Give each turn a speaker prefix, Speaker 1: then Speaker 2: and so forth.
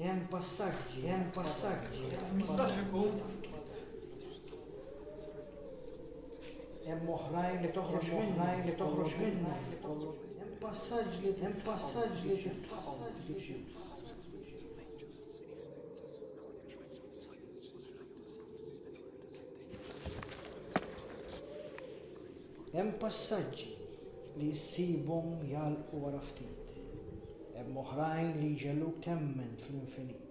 Speaker 1: Hemm passaġġi, hemm passaġġi. Mistax ikun. Hemm oħrajn li toħroġ minna, li toħroġ minna. Hemm passaġġ li hemm passaġġ li Hemm passaġġi li ssibhom jagħlqu wara ftit. Hemm oħrajn li jġegħluk temmen fl-infinit.